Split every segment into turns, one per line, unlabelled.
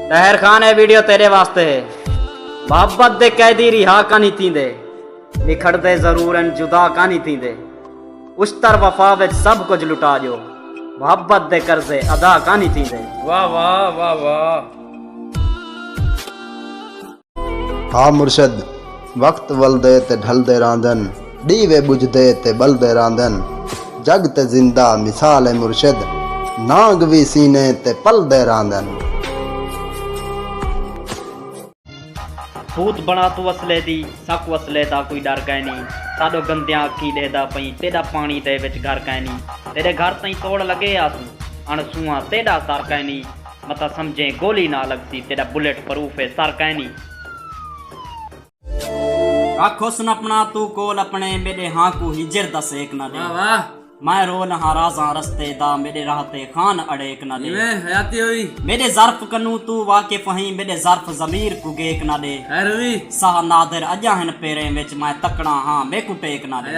طاہر خان اے ویڈیو تیرے واسطے ہے محبت دے قیدی رہا کانی تیندے نکھڑ دے ضرور ان جدا کانی تیندے اشتر وفا وچ سب کچھ لٹا جو محبت دے قرضے ادا کانی تیندے واہ واہ واہ
واہ
ہا مرشد! وقت ولدے تے ڈھلدے راہندن، ڈیوے بجھدے تے بلدے راہندن، جگ تے زندہ مثال اے مرشد، نانگ وی سینے تے پلدے راہندن۔
بھوت بنڑا توں اصلے دی، ساکوں اصلے دا کوئی ڈر کائنی، ساڈو گندیاں اکھیں ڈیہدا پئیں، تیڈا پانڑی دے وچ گھر کائنی، تیڈے گھر تئیں توڑ لگے آسوں، اݨ سونہاں تیڈا سر کائنی، متاں سمجھیں گولی نہ لگسی تیڈا بلٹ پروف اے سر کائنی۔ رکھ حسن اپنا توں کول اپنے میڈے ہاں کوں ہجر دا سیک نہ ڈے میں
رو لہاں
رازاں رستے دا میڈے راہ تے خان اڑیک نہ ڈے میڈے
ظرف کنوں
توں واقف ہیں میڈے ظرف ضمیر کوں گیک نہ ڈے ساہ
نادر اجاں
ہن پیریں وچ میں تکڑاں ہاں میکوں ٹیک نہ ڈے۔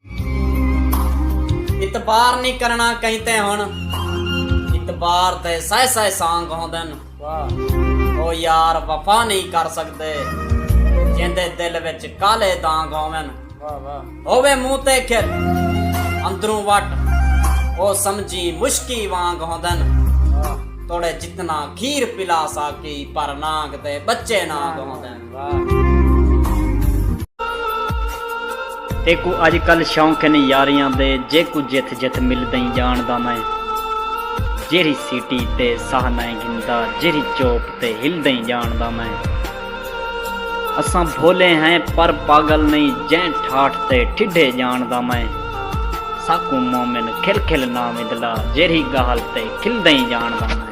اعتبار نی کرنا کہیں تے ہن اعتبار تے سائے سائے سانگ ہوندن او یار وفا نہیں کر سکدے جیندے دل وچ کالے دانگ ہوون ہووے منہ تے کھل اندروں وٹ او سمجھی مشکی وانگ ہوندن توڑے جتنا کھیر پلا ساکی پر نانگ تے بچے نانگ ہوندن تیکوں اج کل شوق ہن یاریاں دے جیکوں جتھ جتھ ملدئیں جانڑدا میں جیرھی سیٹی تے ساہ نئیں گھندا جیرھی چوپ تے ہلدئیں جانڑدا میں اساں بھولے ہیں پر پاگل نئیں جئیں ٹھاٹھ تے ٹھڈھے جانڑدا میں ساکوں مومن کھل کھل نا مدلا جیرھی گالھ تے کھلدئیں جانڑدا میں